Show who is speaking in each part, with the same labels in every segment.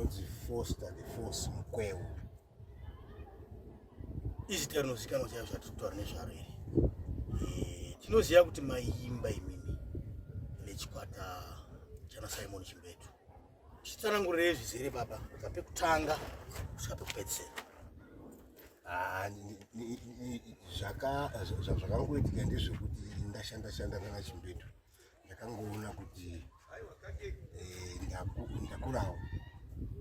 Speaker 1: ndinonzi foster the force mukwewo
Speaker 2: izita rinozikanwa chaivo zvatirikutaura nezvaro iri eh, tinoziva kuti maiimba imimi nechikwata chana simon chimbetu chitsanangurire zvizere baba kubva pekutanga kusvika pekupedzisera ah,
Speaker 1: zvakangoitika ndezvekuti ndashanda shanda kana chimbetu ndakangoona kuti eh, ndakurawo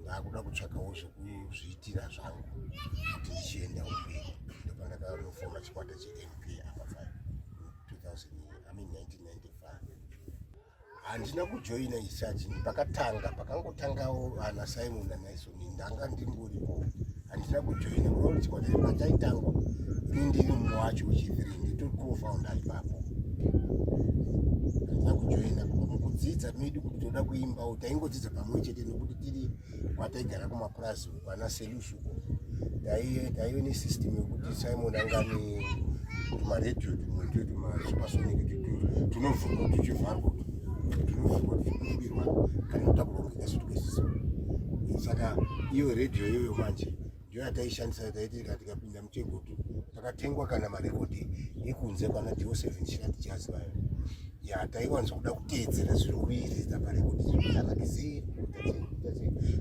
Speaker 1: ndaakuda kutsvakawo zvekuzviitira zvangu kuti ndichienda umberi ndopa ndakanofona chikwata chemp apa 1995 handina kujoina isachi pakatanga pakangotangawo ana simon anaiso ndanga ndingoripo handina kujoina kuona chikwata chepachaitangwa ini ndiri mumwe wacho wechithree nditori kofoundi ari papo handina kujoina mukudzidza medu kuti toda kuimbawo taingodzidza pamwe chete nekuti tiri kwataigara kumapurazi uko ana selusuko taive nesystem yekuti simon angani tumaredio tumwe twe tumasupersonic tunovhurwa tuchivharwa tunovhurwa tuchikumbirwa kana toda kurongeka yasu tikasiso saka iyo radio iyoyo manje ndiyo yataishandisa taitira tikapinda muchegutu takatengwa kana marekodhi ekunze kwana dio seven shat jaz vayo ya taiwanza kuda kuteedzera zviri kuiridza parekodhi zviaakizii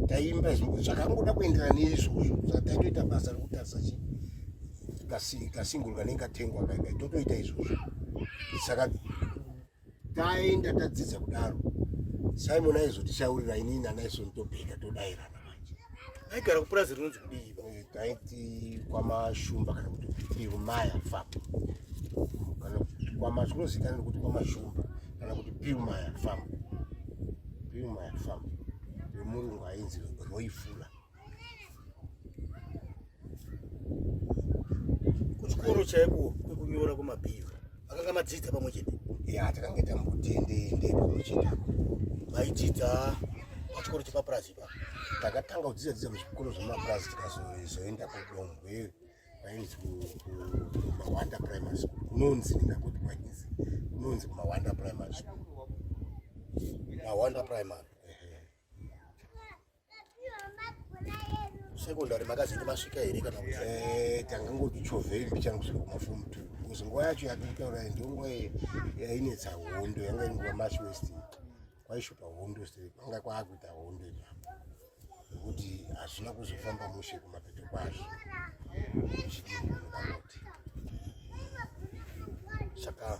Speaker 1: taimba zvakangoda kuenderana neizvozvo zvataitoita basa rekutarisa chii kasingol kanenge katengwa kaika totoita izvozvo saka taenda tadzidza kudaro simon aizotishaurira inini nanaison tobheka todairana manje aigara kupurazi
Speaker 2: rinonzi kudii eh, taiti
Speaker 1: kwamashumba kana kuti pirumaya fam kana kwamazvinozikanani kuti kwamashumba kana kuti pirumaya fam pirumaya fam yomurungu ainzi roifula
Speaker 2: kuchikoro chaiko kwekunyora kwemabhiyo akanga madzidza pamwe chete ya takange
Speaker 1: tambotiendeende pamwe chete maidzidza
Speaker 2: pachikoro chepapurazi ipa takatanga kudzidza
Speaker 1: dzidza kuzvikoro zvemapurazi tikazoenda kudomhwe kwainzi kumawanda primary school kunonzi ndingakuti kwainzi kunonzi kumawanda primary school mawanda
Speaker 2: primary sekondari makazenge masvika here kana eh, tanga ngotichovhei
Speaker 1: mbichana kusvika kumafomu two bcause nguva yacho yatitaura ndo nguva yainetsa hondo yanga iri nguva march west kwaishopa hondo se kwanga kwaakuita hondo ipapo nekuti hazvina kuzofamba mushe kumapeto kwazvo zvidiiaoti
Speaker 2: saka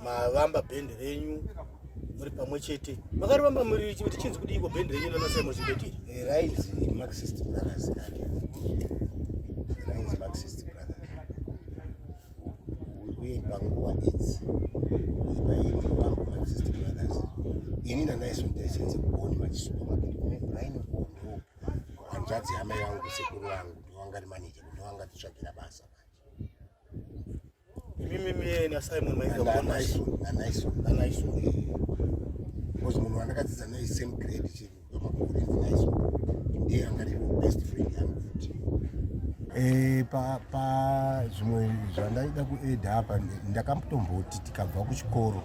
Speaker 2: mavamba bhendi renyu muri pamwe chete makarivamba muri kuti chinzi kudiiko bhendi renyu nanasaimo zibetiri eh, rainzi
Speaker 1: maxist brothers rainzi maxist brothers uye panguva idzi ipaini vambo maxist brothers ini nanaison taisenze kuboni machisupamaketi kune braini kuondo hanzvadzi yamai vangu sekuru vangu ndiwangari maneja ndiwangati tsvagira basa Mimi
Speaker 2: mimi na Simon Maika na nice na nice na nice.
Speaker 1: Because mwana anakadziza naye same grade chini ndo makore ndi nice. Ndiye angari best friend yangu futi. Eh pa pa zvimwe zvandaida kueda hapa ndakambotomboti tikabva kuchikoro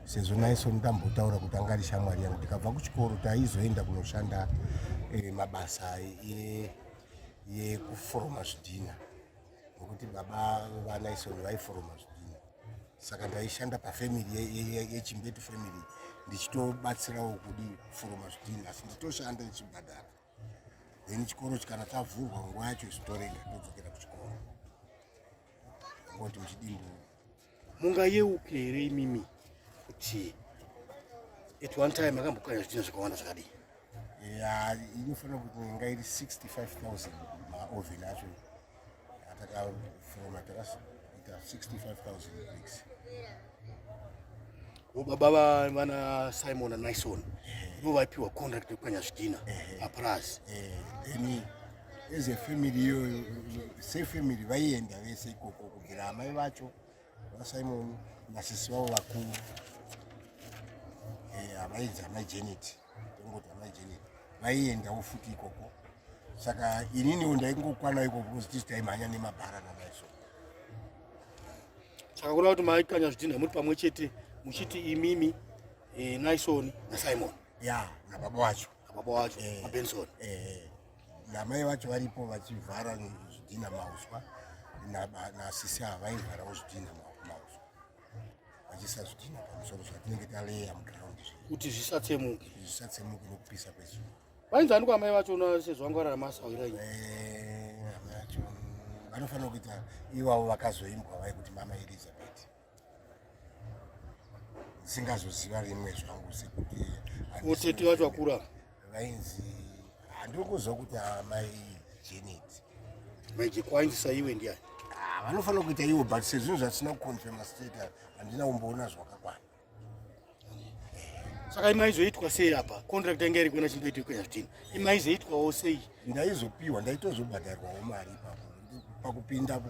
Speaker 1: sezvo naiso ndambotaura kuti anga ari shamwari yangu ndikabva kuchikoro taizoenda kunoshanda eh, mabasa e, yekuforoma zvidhina nokuti baba vanaisoni vaiforoma zvidhina saka ndaishanda pafamily yechimbetu family ndichitobatsirawo kudi kuforoma zvidhina asi nditoshanda ndichibhadhara then chikoro chikana chavhurwa nguva yacho isu torega todzokera kuchikoro ngoti muchidimbu Mungayeuke
Speaker 2: here imimi kuti at one time akambokanya zvitina zvakawanda zvakadii? Ya,
Speaker 1: inofanira kuti inga iri 65,000 maoven acho atakafoma takasa 65,000 bricks.
Speaker 2: Baba vana Simon na Nison ndivo vaipiwa contract yekukanya zvidhina apurazi.
Speaker 1: as a family iyoyo sefamily vaienda vese ikoko kubvira amai vacho vasimon nasisi vavo vakuru eh, havainzi amai janet tongoti amai janet vaiendawo futi ikoko saka ininiwo ndaingokwana ikoko because tisi taimhanya nemabhara namaiso
Speaker 2: saka kuda kuti maikanya zvidhinha muri pamwe chete muchiti imimi eh, naisoni nasimon ya nababa wacho nababa wacho eh, mabenson eh, eh.
Speaker 1: Namai vacho varipo vachivhara zvidhina mauswa nasisi ava vaivharawo zvidhina mauswa vachisa zvidhina pamusoro zvatinenge taleya muground kuti zvisatsemuke
Speaker 2: zvisatsemuke nokupisa
Speaker 1: kwezuva vainzi andiko amai
Speaker 2: vacho na sezvo vanga vararama asawira ii eh, amai
Speaker 1: vacho vanofanira kuita ivavo vakazoimbwa vaikuti mama elizabeth singazoziva rimwe zvangu sekuti utete vacho
Speaker 2: vakura vainzi
Speaker 1: handiri kuziva kuti amai janet mai
Speaker 2: jekwainzisa iwe ndiyani ah, vanofanira kuita
Speaker 1: iwo but sezvinhu zvatisina kuconfirma state handina kumboona zvakakwana
Speaker 2: saka imaizoitwa sei apa contract yanga iri kuona chindoita iko yazvitini imaizoitwawo sei ndaizopiwa
Speaker 1: ndaitozobhadharwawo mari ipapo pakupinda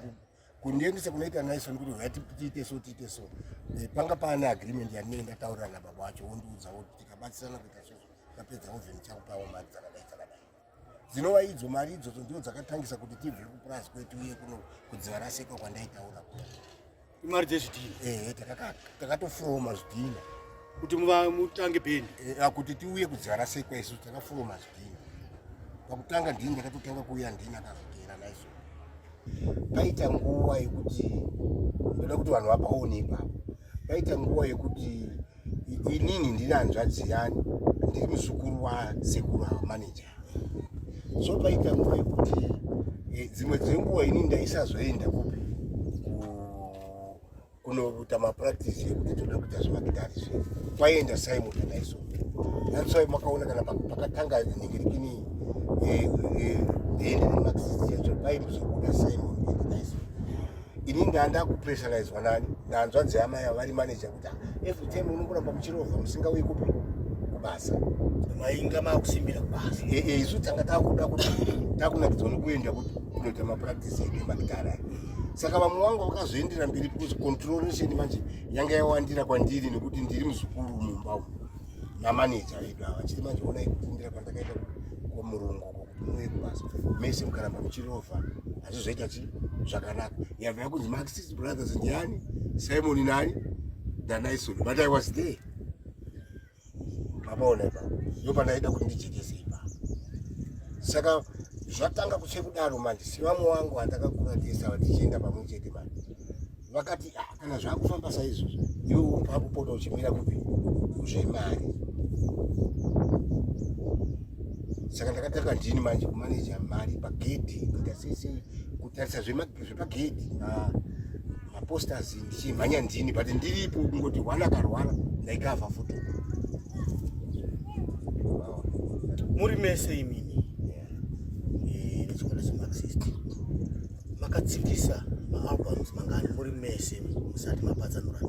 Speaker 1: kundiendesa kunoita naison kuti huyati tiite so tiite so eh, panga paane agreement yandinenge ndataurira nababa wacho wondiudza woti tikabatsirana kuita so tapedza oven chakupawo mari dzakadai dzakadai dzinova idzo mari idzodzo ndiwo dzakatangisa kuti tibve kupurazi kwetu uye kuno kudziva raseka kwandaitaura ku imari
Speaker 2: dzezvidhina ehe takatofuroma
Speaker 1: zvidhina kuti
Speaker 2: mutange pendi eh, ah, kuti tiuye kudziva
Speaker 1: rasekwa isu takafuroma zvidhina pakutanga ndini ndakatotanga kuuya ndini akazogera naiso paita nguva yekuti ndoda kuti vanhu vapaone ipapo paita nguva yekuti inini ndiri hanzvadzi yani ndiri muzukuru wasekuru ava maneja so paita nguva yekuti eh, dzimwe dzenguva ini ndaisazoenda kupi kunoita mapractice ekuti toda kuita zvemakitari zve kwaienda simon naiso natswai makaona kana pakatanga nyengerekini dende remaxist yacho paimuzobuda simon naiso ini ndanda kupressurizwa nani nanzvanzi yama ya vari manager kuti every time unongoramba muchirovha musingauyi kupi kubasa mainga
Speaker 2: makusimbira kubasa isu tanga takuda
Speaker 1: kuti takunakidzwa nokuenda kunoita mapractice emakitari saka vamwe vangu vakazoendera mberi because controlation manje yanga yawandira kwandiri nekuti ndiri muzukuru mumba umu namaneja vedu ava chiri manje onai kufundira kwandakaita kwamurungu kokuti muye kubasa mese mukaramba muchirova hazvizoita chi zvakanaka yava yakunzi maxis brothers ndiani simoni nani ndanaisoni but i was there Maona ipa. Ndipo pandaida kuti ndijekese ipa. Saka zvatanga kutsve kudaro manje sivamwe wangu vandakakura tese vatichienda pamwe chete manje vakati ah, kana zvakufamba saizvozvo iwe wakupota uchimira kupi kuzvemari saka ndakatanga ndini manje kumaneja mari pagedhi kuita sese kutarisa zvepagedhi ah. maposters ndichimhanya ndini but ndiripo kungoti one akarwara ndaikavha futi
Speaker 2: muri mese imini eh, nechikwata chemaxist makatsikisa maalbums mangani muri mese musati mapatsanura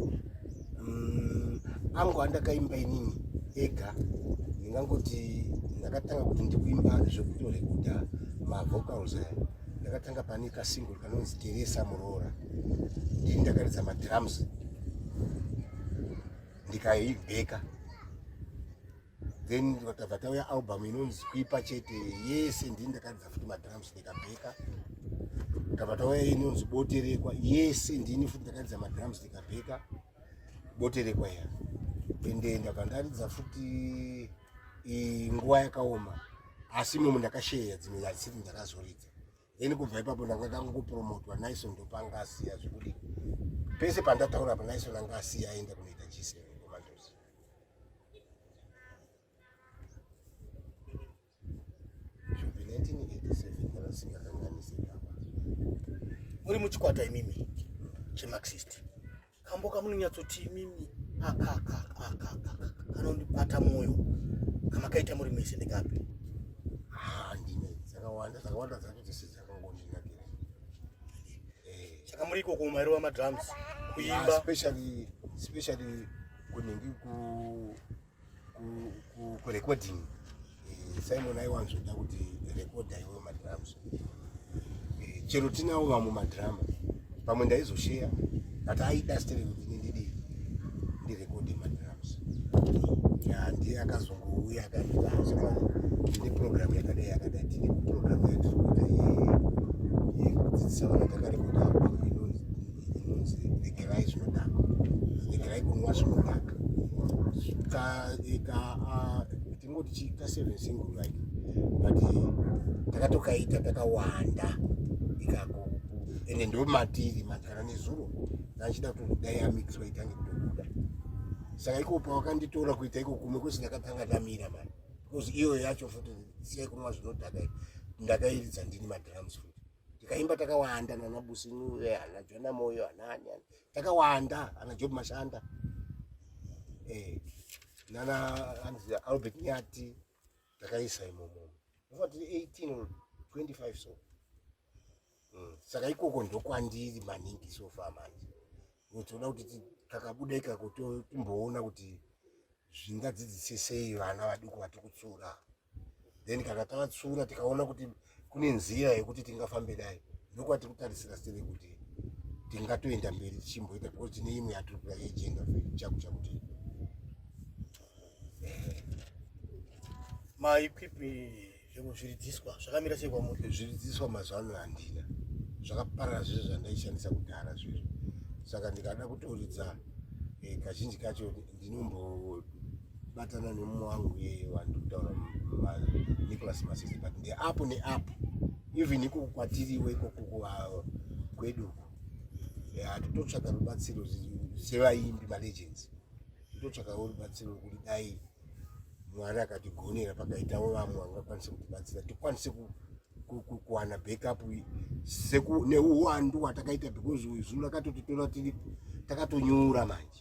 Speaker 2: mm,
Speaker 1: angu andakaimba inini ega ndingangoti ndakatanga kuti ndikuimba zvekutorekoda mavocals aya ndakatanga pane kasingle anonzi Teresa muroora ndini ndakaridza madrums ndikaibheka then vakabva tauya album inonzi kuipa chete yese ndini ndakaridza futi madrums ndikabheka takabva tauya inonzi boterekwa yese ndini futi ndakaridza madrums ndikabheka boterekwa ya ende ndabva ndaridza futi nguva yakaoma asi imomo ndakasheya dzimwe yasiti ndakazoridza ini kubva ipapo ndanga ndangopromotwa nison ndopanga asiya zvekuti pese pandataura pa nison anga asiya aenda kunoita g7 komandosi zvobi 1987 kana singakanganisirapa
Speaker 2: muri muchikwata imimi chemaxist kambo kamunonyatsoti imimi kanondibata mwoyo kamakaita muri mese ndekapi ah,
Speaker 1: ndine dzakawanda dzakawanda dzacho dzese dzakangondinakira eh.
Speaker 2: saka muri ikoko mumairova madrums kuimba ah, especially
Speaker 1: kunenge ku kurecording eh, simon aiwanzoda kuti rekoda iwe madrums eh, chero tinawo vamwe madrama pamwe ndaizosheya but aida stere kuti nindidi ndirekode madrums ndiye akazongouya akanditaasika tine programu yakadai yakadai tine programu yatiri kuita yekudzidzisa vana takarekoda regerai zvinodhaka regerai kunwa zvinodhaka tingoti chiita seven single right but takatokaita takawanda ikako ende ndo matiri magara nezuro ndachida kuti dai yamixwa itange kutobuda saka iko pawakanditora kuita iko kumwe kwese ndakatanga ndamira mani because iyoyo yacho futi siyai kunwa zvinodhaka ndakairidza ndini madrums futi tikaimba takawanda nana businure eh, ana jona moyo anani takawanda ana job mashanda eh, nana anzi albert nyati takaisa imomo ndofa tiri 18 or 25 so mm. saka ikoko ndokwandiri maningi sofa manje toda kuti takabuda ikako timboona kuti zvingadzidzise sei vana vaduku vatikutsura then kana tavatsura tikaona kuti kune nzira yekuti tingafambe nayo ndokwati kutarisira sere kuti tingatoenda mberi tichimboita because tine imwe yatiri kuda yejenda chaku chakuti
Speaker 2: maikwipi zvimwe zviridziswa zvakamira sei kwamuri zviridziswa mazuva ano
Speaker 1: handina zvakaparara zvese zvandaishandisa kudhara zvezvo saka ndikada kutoridza eh, kazhinji kacho ndinombobatana nemumwe wangu yeye wandi kutaura Nicholas Masese but ndeapo neapo even iko kwatiriwo ikoko kwedu uko hatototsvaga rubatsiro sevaimbi malegends totsvagawo rubatsiro rwekuti dai mwari akatigonera pakaitawo vamwe vangakwanise kutibatsira tikwanise kuwana backup neuwandu hwatakaita because zvinhu rakatotitora tiri takatonyura manje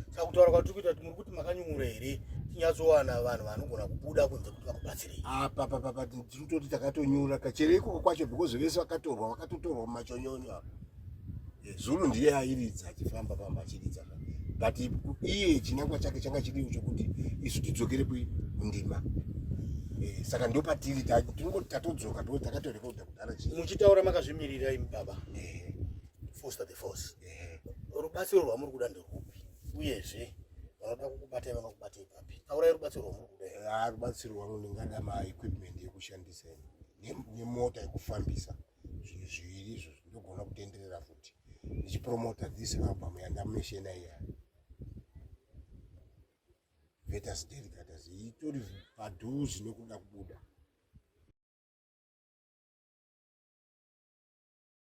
Speaker 1: saka
Speaker 2: kutaura kwatiri kuita kuti muri kuti makanyungura here tinyatsowana vanhu vanogona kubuda kunze kuti vakubatsirei apa papapa tiri
Speaker 1: toti takatonyura kachere ikoko kwacho because vese vakatorwa vakatotorwa mumachonyonyo apa eh, zulu ndiye airidza achifamba famba achiridza but iye chinangwa chake changa chiriwo chokuti isu tidzokere kundima eh, saka ndo patiri tinongoti tatodzoka because takatorekodha kudhara chii muchitaura makazvimirira
Speaker 2: imi baba eh. foster the force rubatsiro rwamuri kuda nderwupi uyezve vanoda kukubatai vangakubatai papi taurai rubatsiro rwamuri kuda ah, rubatsiro rwangu ndingada
Speaker 1: maequipment yekushandisa nemota yekufambisa zvinhu zviviri izvo ndogona kutenderera futi ndichipromota this album yandameshena iya vetas delicatas itori padhuzi nekuda kubuda